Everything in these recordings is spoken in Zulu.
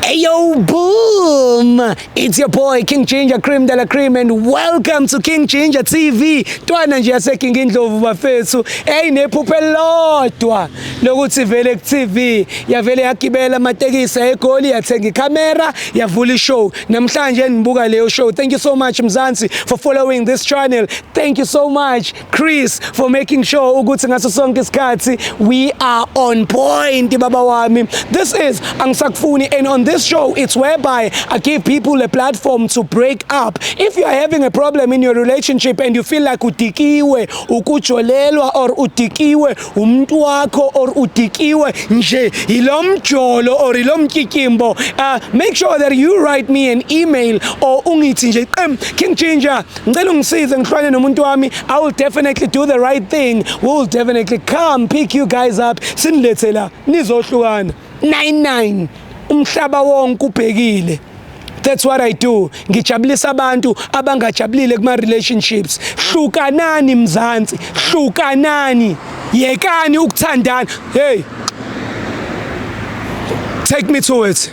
Hey yo, boom! It's your boy King Ginger Cream de la Cream and welcome to King Ginger TV. Twana nje yase King Indlovu bafethu. Hey nephuphe elilodwa lokuthi vele ku TV yavele yagibela amatekisi egoli yathenga camera yavula ishow. Namhlanje nibuka leyo show. Thank you so much Mzansi for following this channel. Thank you so much. Chris for making sure ukuthi ngaso sonke isikhathi we are on point baba wami this is angisakufuni and on this show it's whereby I give people a platform to break up if you are having a problem in your relationship and you feel like udikiwe ukujolelwa or udikiwe umuntu wakho or udikiwe nje ilomjolo or ilomkikimbo uh, make sure that you write me an email or ungithi nje qem king ginger ngicela ungisize ngihlwane nomuntu wami i will definitely do the right thing we will definitely come pick you guys up sinilethe la nizohlukana 99 umhlaba wonke ubhekile that's what i do ngijabulisa abantu abangajabulile kuma relationships hlukanani mzansi hlukanani yekani ukuthandana hey take me to it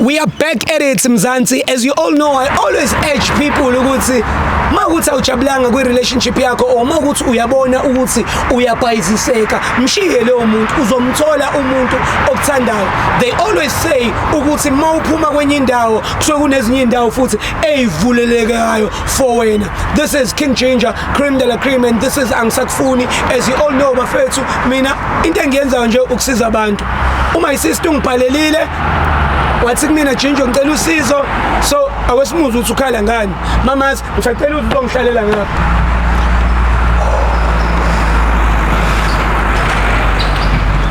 We are back at it Mzansi as you all know I always urge people ukuthi makuthi awujabulanga kwi relationship yakho or makuthi uyabona ukuthi uyabhayiziseka mshiye leyo muntu uzomthola umuntu okuthandayo they always say ukuthi mawuphuma kwenye indawo kusuke kunezinye indawo futhi eyivulelekayo for wena this is king ginger cream de la cream and this is angisakufuni as you all know bafethu mina into engiyenzayo nje ukusiza abantu uma isister ungibhalelile wathi kumina ginger ngicela usizo so awesimuzi uthi ukhala ngani mamazi ngisacela ukuthi uzongihlalela ngapha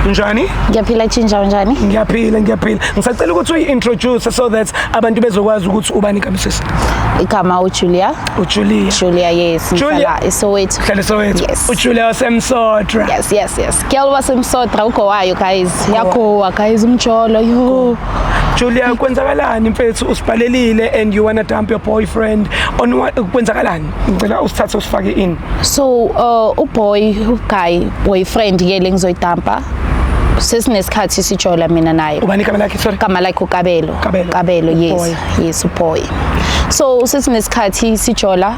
njani ngiyaphila ginger unjani ngiyaphila ngiyaphila ngisacela ukuthi uyi-introduce so that abantu bezokwazi ukuthi ubani kamsisi igama ujulia ujulia julia yes ngihlala isoweto hlala isoweto yes. ujulia wasemsotra yes yes yes girl wasemsotra ugowayo guys yagowa guys umjolo yo Julia kwenzakalani mfethu usibhalelile and you wanna dump your boyfriend on kwenzakalani ngicela usithathe usifake in so uh, uboy guy boyfriend ke lengizoyidumpa sesinesikhathi sijola mina naye ubani igama lakhe sorry igama lakhe ukabelo kabelo yes Yes boy. So usithi nesikhathi sijola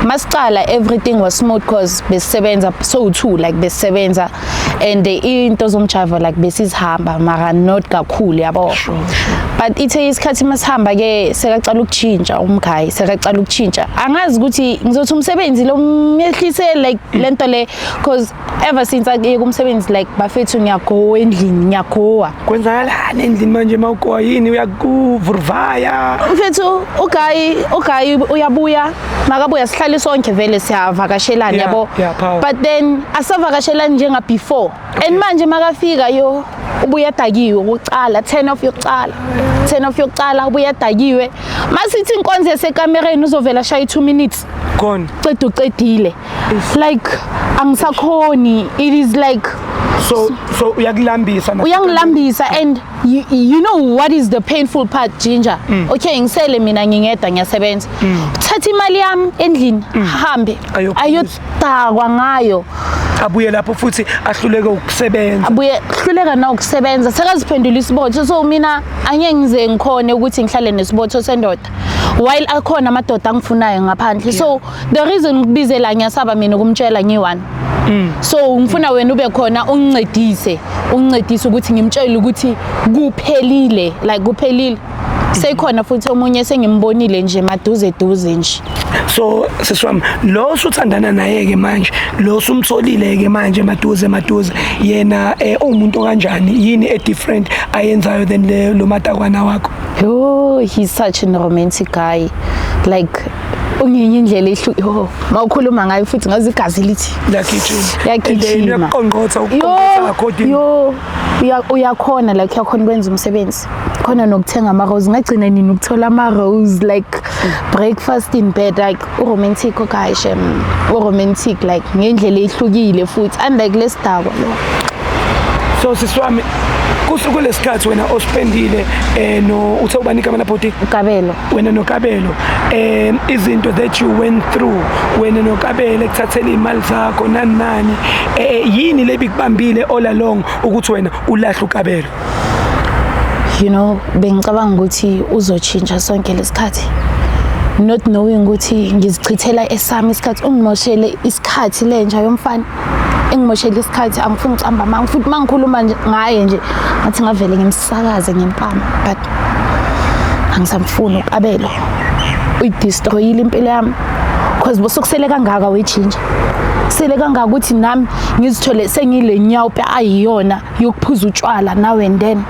masiqala everything was smooth cause besisebenza so two like besisebenza and into zomjava like besizihamba mara not kakhulu yabo sure, sure. but ithe isikhathi masihamba ke sekaqala ukutshintsha umgayi sekaqala ukutshintsha angazi ukuthi ngizothi umsebenzi lo myehlise like lento le cause ever since akuyeke umsebenzi like bafethu ngiyagowa endlini ngiyagowa kwenzakalani endlini manje uma ugowa yini uyakuvuruvaya mfethu ugayi ugayi uyabuya makabuya sihlale sonke vele siyavakashelana Yeah, yabo yeah, power. but then asavakashelani njenga before and manje makafika yo ubuya dakiwe kuqala 10 of yokuqala 10 of yokuqala ubuya dakiwe masithi inkonzo yasekamereni uzovela shaya 2 minutes gone qeda uqedile like angisakhoni it is like so so uyakulambisa uyangilambisa and you, you know what is the painful part ginger mm. okay ngisele mina ngingedwa ngiyasebenza mm. thatha imali yami endlini mm. hambe ayodakwa ngayo abuye lapho futhi ahluleke ukusebenza abuye hluleka na ukusebenza sekaziphendula isibotho so mina angeke ngize ngikhone ukuthi ngihlale nesibotho sendoda while akhona amadoda angifunayo ngaphandle so the reason ngikubizela ngiyasaba mina ukumtshela ngiyi-one mm. so ngifuna wena ube khona ungincedise ungincedise ukuthi ngimtshele ukuthi kuphelile like kuphelile sekhona futhi omunye sengimbonile nje maduze duze nje so sisi wami lo usuthandana naye-ke manje lo usumtholile-ke manje maduze maduze yena um uwumuntu okanjani yini e-different ayenzayo than lo matakwana wakho oh he's such an romantic guy like ungenye indlela ehluke oh mawukhuluma ngayo futhi ngazi igazi lithi liyagijima liyagijima uyaqonqotha ukuqonqotha akho dini yo uyakhona like uyakhona ukwenza umsebenzi khona nokuthenga ama rose ngagcina nini ukuthola ama rose like breakfast in bed like uromantic okay shem uromantic like ngendlela ehlukile futhi unlike lesidakwa lo so siswami kusuku lesikhathi wena ospendile eh no uthe ubanika amalapoti ukabelo wena nokabelo um izinto that you went through wena nokabelo ekuthathela iy'mali zakho nani nani um yini le bikubambile all along ukuthi wena ulahle ukabelo you know bengicabanga ukuthi uzotshintsha sonke lesikhathi not knowing ukuthi ngizichithela esami isikhathi ungimoshele isikhathi lenja yomfana engimoshela isikhathi angifuni ukuhamba manga futhi mangikhuluma nje ngaye nje ngathi ngavele ngimsakaze ngempama but angisamfuni ukabelo uyidestroyile impilo yami because bosokusele kangaka wejinja sele kangaka ukuthi nami ngizithole sengile nyawo ayiyona yokuphuza utshwala now and then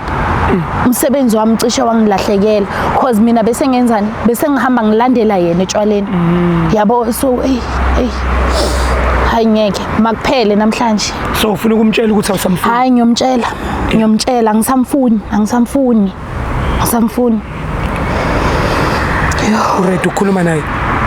umsebenzi wami cishe wangilahlekela cause mina bese ngenzani bese ngihamba ngilandela yena etshwaleni mm. yabo so hey hey hayi ngeke makuphele namhlanje so ufuna ukumtshela ukuthi awusamfuni hayi ngiyomtshela ngiyomtshela angisamfuni angisamfuni Asamfuni. Uready ukukhuluma naye?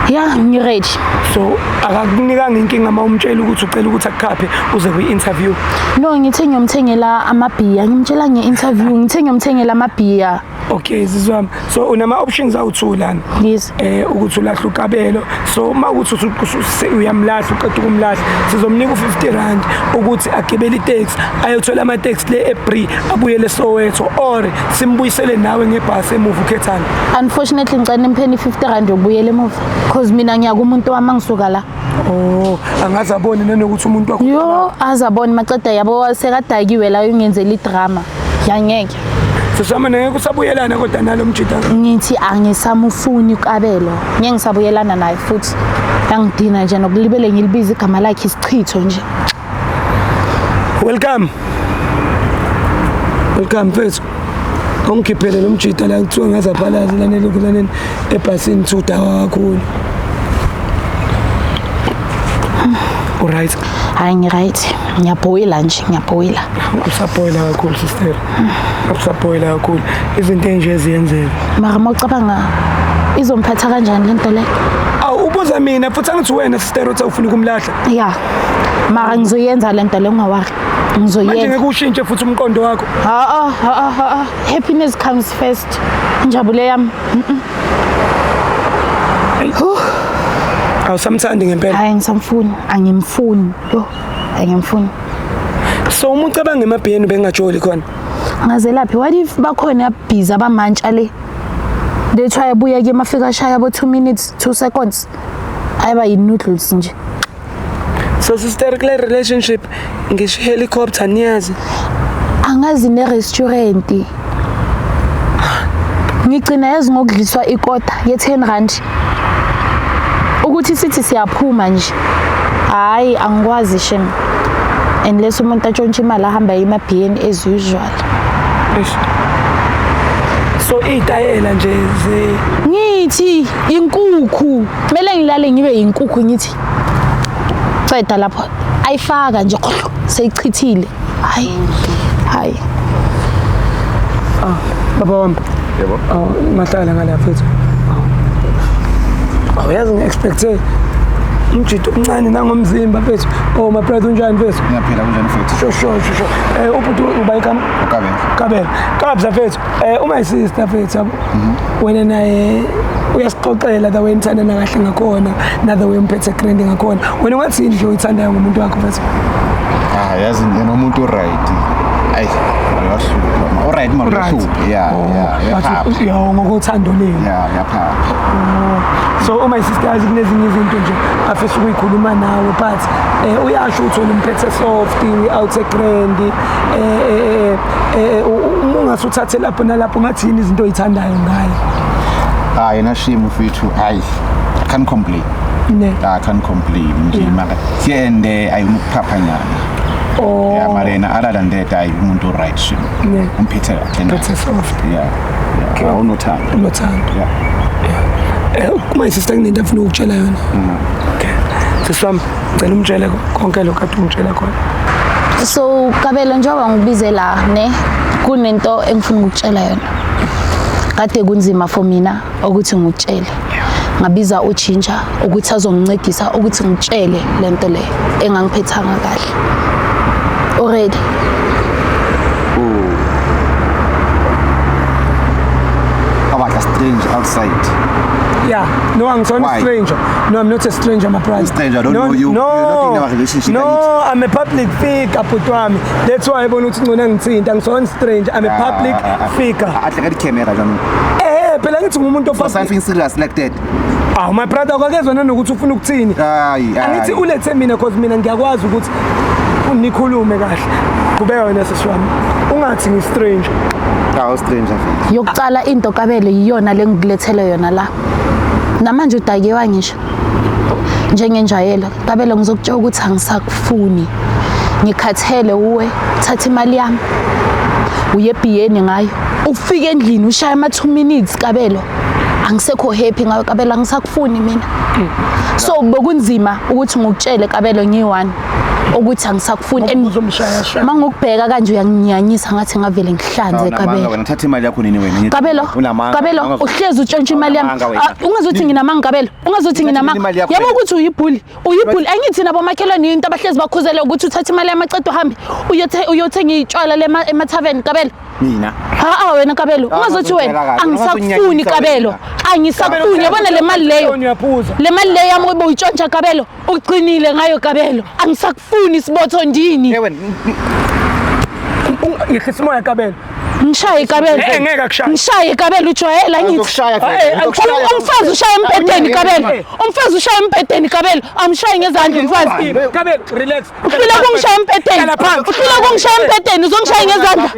Yeah, ngiready. So akakunikanga inkinga uma umtshela ukuthi ucela ukuthi akukhaphe uze kwi-interview? No, ngithe ngiyomthengela amabhiya. Ngimtshela nge-interview, ngithe ngiyomthengela amabhiya. Okay, zizwami. So unama options awu-2 lana? Yes. eh ukuthi ulahla ukabelo so uma ukuthi uyamlahla uqeda ukumlahla sizomnika u50 rand ukuthi agibele itaxi ayothola ama taxi le eBree abuyele Soweto or simbuyisele nawe ngebhasi emuva ukhethana unfortunately ngicela impheni 50 rand yokubuyela emuva because mina ngiya kumuntu wami angisuka la Oh, angaze abone nanokuthi umuntu wakho. Yo, azabone maceda yabo sekadakiwe la ungenzela idrama. Yangeke. sisami ngeke kusabuyelana kodwa nalo mjita ngithi angisamufuni ukabelo ngeke ngisabuyelana naye futhi yangidina nje nokulibele ngilibiza igama lakhe isichitho nje welcome welcome mfethu ongikhiphele lo mjita la kuthiwa ngaze aphalaze lanele kulaneni ebhasini thuda kakhulu uright hayi ngiright ngiyabhoyila nje ngiyabhoyila usabhoyila kakhulu sister usabhoyila kakhulu izinto enje eziyenzeka mara uma ucabanga izomphatha kanjani le nto le awu ubuza mina futhi angithi wena sister uthi awufuni ukumlahla ya mara ngizoyenza le nto le ungawari ngizoyenza manje ngeke ushintshe futhi umqondo wakho ha ha ha happiness comes first injabulo yami awusamthandi ngempela hayi ngisamfuni angimfuni yo angimfuni so uma ucabanga emabhiyeni bengajoli khona ngazelaphi what if bakhona abhiza abamantsha le they try abuye ke mafika ashaya bo 2 minutes 2 seconds ayiba yi noodles nje so sister kule relationship ngisho helicopter niyazi angazi nerestaurant ngigcina yazi ngokudliswa ikota ye-10 rand ukuthi sithi siyaphuma nje hhayi angikwazi shem unless umuntu atshontshe imali ahamba yemabhiyeni as usual so iy'tayela nje ze ngithi inkukhu kumele ngilale ngibe yinkukhu ngithi ceda lapho ayifaka nje seyichithile hayi hayi ah baba wami yebo awu mahlala ngala mfethu awuyazi ngi-expecte umjito omncane nangomzimba mfethu oh my brother unjani mfethu ngiyaphila kunjani mfethu sho sho sho um ubhuti uba ikama kabela kabela kabza mfethu Eh uma isister mfethu yabo. Wena naye uyasixoxela the way nithandana kahle ngakhona na the way umphethe grand ngakhona. Wena wathi yini nje uyithandayo ngomuntu wakho mfethu? Ah yazi yena umuntu uright. Ayi uyahlupha. Uright mara Uright. uyahlupha. Yeah yeah. But uyaphapha. u- yawo ngokothando lenu. Yeah uyaphapha. so uma isister yazi kunezinye izinto nje afisa ukuyikhuluma nawe but eh, uyasho ukuthi wena umphethe soft we out a grand eh, eh, eh, eh, eh uma ungase uthathe lapho nalapho ngathi yini izinto oyithandayo ngaye hayi nashimo mfethu hayi i can't complain ne i can't complain nje maka siyende ayumukuphapha nyana oh yeah marena other than that ayi umuntu right shimo ne umphethe kahle na that's soft yeah yeah awunothando unothando yeah yeah eh, uma isister kunento afuna ukutshela yona mm. okay siswami ngicela umtshele konke lokhu kade ungitshela khona so kabelo njengoba ngibize la ne kunento engifuna ukutshela yona kade kunzima for mina ukuthi ngikutshele ngabiza utshintsha ukuthi azongincedisa ukuthi ngitshele lento le engangiphethanga kahle already about a strange outside yeah no angisona stranger No, I'm not a stranger, my price. Stranger, I don't no, know you. No, You're not in a relationship. No, I'm a public figure, Putwami. That's why I want to know nothing. I'm so stranger. I'm a ah, public ah, ah, figure. I think I camera, John. Eh, phela ngithi ngumuntu ofasa. Something serious like that. Ah, my brother, akakezwa nanokuthi ufuna ukuthini. Hayi, hayi. Angithi ulethe mina because mina ngiyakwazi ukuthi nikhulume kahle. Kubeka wena sesiwami. Ungathi ngi stranger. Awu stranger. Yokucala into kabele yiyona lengikulethele yona la. namanje udakiwa ngisho njengenjayelo kabelo ngizokutshela ukuthi angisakufuni ngikhathele uwe thatha imali yami uye ebhiyeni ngayo ufike endlini ushaya ama 2 minutes kabelo angisekho happy ngayo kabelo angisakufuni mina so bokunzima ukuthi ngikutshele kabelo ngiyi-one ukuthi angisakufuni and Uzomshayasha. uma ngokubheka kanje uyanginyanyisa ngathi ngavele ngihlanze Unamanga kabelo wena uthatha imali yakho nini wena? kabelo Unamanga. kabelo Unamanga. uhlezi utshontsha imali yami Unamanga wena. Ah, ungazi ukuthi nginamanga kabelo ungazi ukuthi Uthathe nginamanga imali yakho yabo wena. ukuthi uyibhuli uyibhuli angithi nabo makhelwane yinto abahlezi bakhuzele ukuthi uthatha imali yami aqeda uhambe uyothe- uyothenga itshwala lema- emathaveni kabelo Mina. haa wena kabelo Ah, ungazi ukuthi wena ngizokutshela kahle. angisakufuni Ungazunyanyisa kabelo wena. angisakufuni yabona le mali leyo Uyaphuza. le mali leyo yami ubuyitshontsha kabelo Uqinile ngayo Kabelo. Angisakufuni isibotho ndini. Ewe ngihlisa umoya Kabelo. Ngishaye Kabelo. Eh ngeke akushaye. Ngishaye Kabelo ujwayela ngithi. Uzokushaya Kabelo. Umfazi ushaya embedeni Kabelo. Umfazi ushaya embedeni Kabelo. Amshaye ngezandla umfazi. Kabelo relax. Uhlula kungishaya embedeni. Uhlula kungishaya embedeni uzongishaya ngezandla.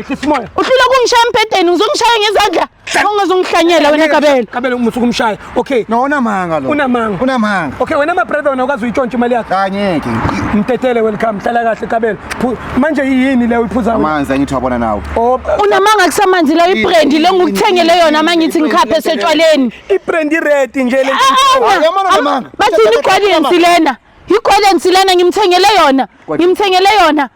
Uhlula kungishaya embedeni uzongishaya ngezandla. ungazongihlanyela wena kabelo kabelo umusuku umshaya okay no unamanga lo unamanga unamanga okay wena ma brother wena ukazi uyitshontsha imali yakhe kanyeke mtetele welcome hlala kahle kabelo manje yini le uyiphuza amanzi angithi wabona nawe oh, unamanga kusamanzi la ibrand le ngukuthengele yona mangithi ngikhaphe setshwaleni ibrand red nje le bathini iqwalensi lena iqwalensi lena ngimthengele yona ngimthengele yona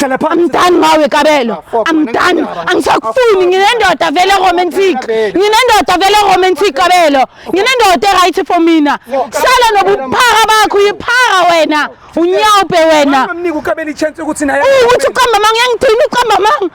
hlala phansi amdani ngawe kabelo amdani angisakufuni nginendoda vele romantic nginendoda vele romantic kabelo nginendoda eright for mina sala nobuphara bakho uyiphara wena unyawupe wena ukuthi uqamba manga uyangidina uqamba manga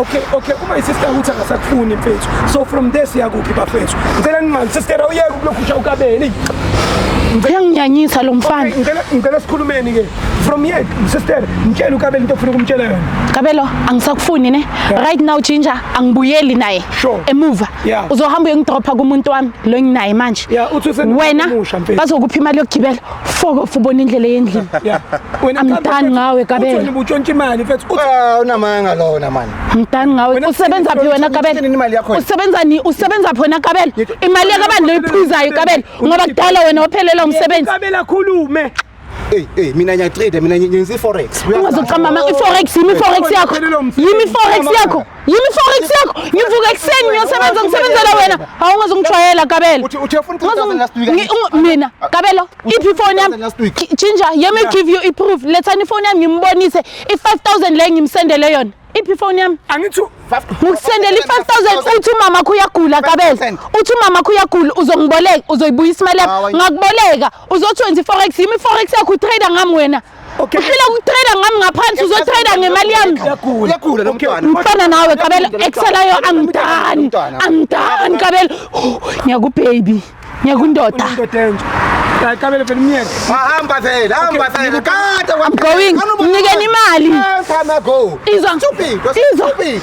okay okay uma isister ukuthi akasakufuni mfethu so from there siyakuphi bafethu ngicela ninqani sister awuyeke ukulokhusha ukabeni uyanginyanyisa lo mfana ngicela sikhulumeni ke from here sister ngitshela ukabelo into ofuna ukumtshela yona kabelo angisakufuni ne right now ginger angibuyeli naye emuva uzohamba uyongidropha kumuntu wami lo nginaye manje wena bazokupha imali yokugibela Foko fubona indlela yendlini. Yeah. Wena I'm done ngawe Kabelo. Uthini butshontsha imali mfethu? Uthi ah unamanga lona manje. I'm done ngawe. Usebenza phi wena Kabelo? Usebenza ni usebenza phi wena Kabelo? Imali yakhe abantu loyiphuzayo Kabelo ngoba kudala wena ophelela umsebenzi. Kabelo akhulume. Hey hey mina ngiyatrade mina ngenza iforex. Ungazochama i forex yimi forex yakho. Yimi forex yakho. yimi forex yakho ngivuka ekuseni ngiyosebenza ngisebenzela wena hawu ungazongijwayela kabelo mina kabelo iphi ifoni yami ginger let me give you iproof lethani ifoni yami ngimbonise i-5000 le ngimsendele yona iphi ifoni yami angithi ngikusendela i-five thousand uthi umama kho uyagula kabeza uthi umama kho uyagula uzongiboleka uzoyibuyisa imali yakho ngakuboleka uzothi wenza i-forex yimi i-forex yakho utrader ngami wena Okay. Uhlele ukutrader ngami ngaphansi uzotrader ngemali yami. Uyagula lo mntwana. Mfana nawe Kabelo exelayo angidani. Angidani Kabelo. Ngiyaku baby. Ngiyakundoda. Hayi Kabelo phela umyeke. Hamba vele, hamba vele. Kade I'm going. Unikeni imali. Hamba go. Izwa. Stupid. Izwa.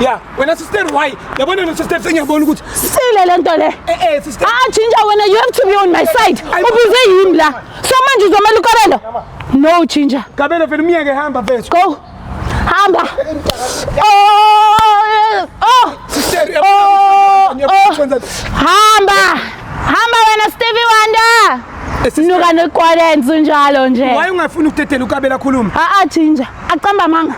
ya wena sister why yabona no sister sengiyabona ukuthi sile le nto le eh eh sister ah chinja wena you have to be on my side ubuze yimi la so manje uzomela ukarelo no chinja kabelo vele umyeke hamba mfethu go hamba oh oh sister oh, oh. hamba hamba wena Stevie Wonder eh, Nuka nekwalenzi njalo nje. Why ungafuni ukudedela ukabela khuluma? Ah ah chinja. Aqamba amanga.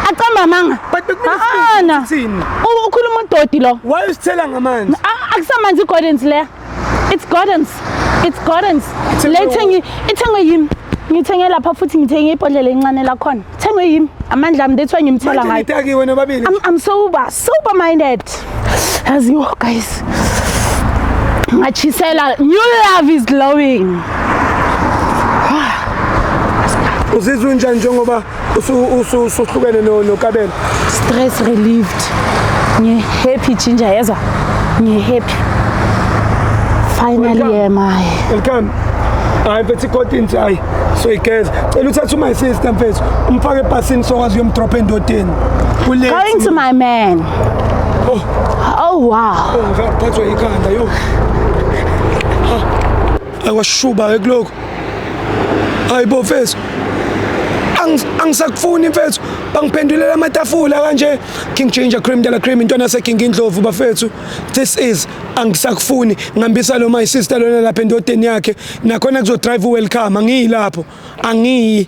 Aqamba amanga. But bekumina sithini? Ukhuluma udodi lo. Why usithela ngamanzi? Akusamanzi igordens le. It's gordens. It's gordens. Le thengi ithengwe yimi. Ngithenge lapha futhi ngithenge ibhodlela encane la khona. Thengwe yimi. Amandla ami that's why ngimthela ngayo. Manje nitaki wena babili. I'm, I'm sober, sober minded. As you guys. Machisela, new love is glowing. Uzizwa unjani njengoba usuhlukene nokabela? Stress relieved. Ngi happy ginger yezwa. Ngi happy. Finally am I. Welcome. Hayi mfethu ikotini hayi. So igeza. Cela uthathe uma sister mfethu. Umfake ebhasini sokwazi uyomdrop endodeni. Going to my man. Oh wow. Oh, ngaphathwa ikhanda yo. Akwashuba ke kuloko. Hayibo mfethu. angisakufuni mfethu bangiphendulela amatafula kanje king ginger cream dala cream intwana seking indlovu bafethu this is angisakufuni ngihambisa lo my sister lona lapha endodeni yakhe nakhona kuzodrive welcome angiyilapho angiyi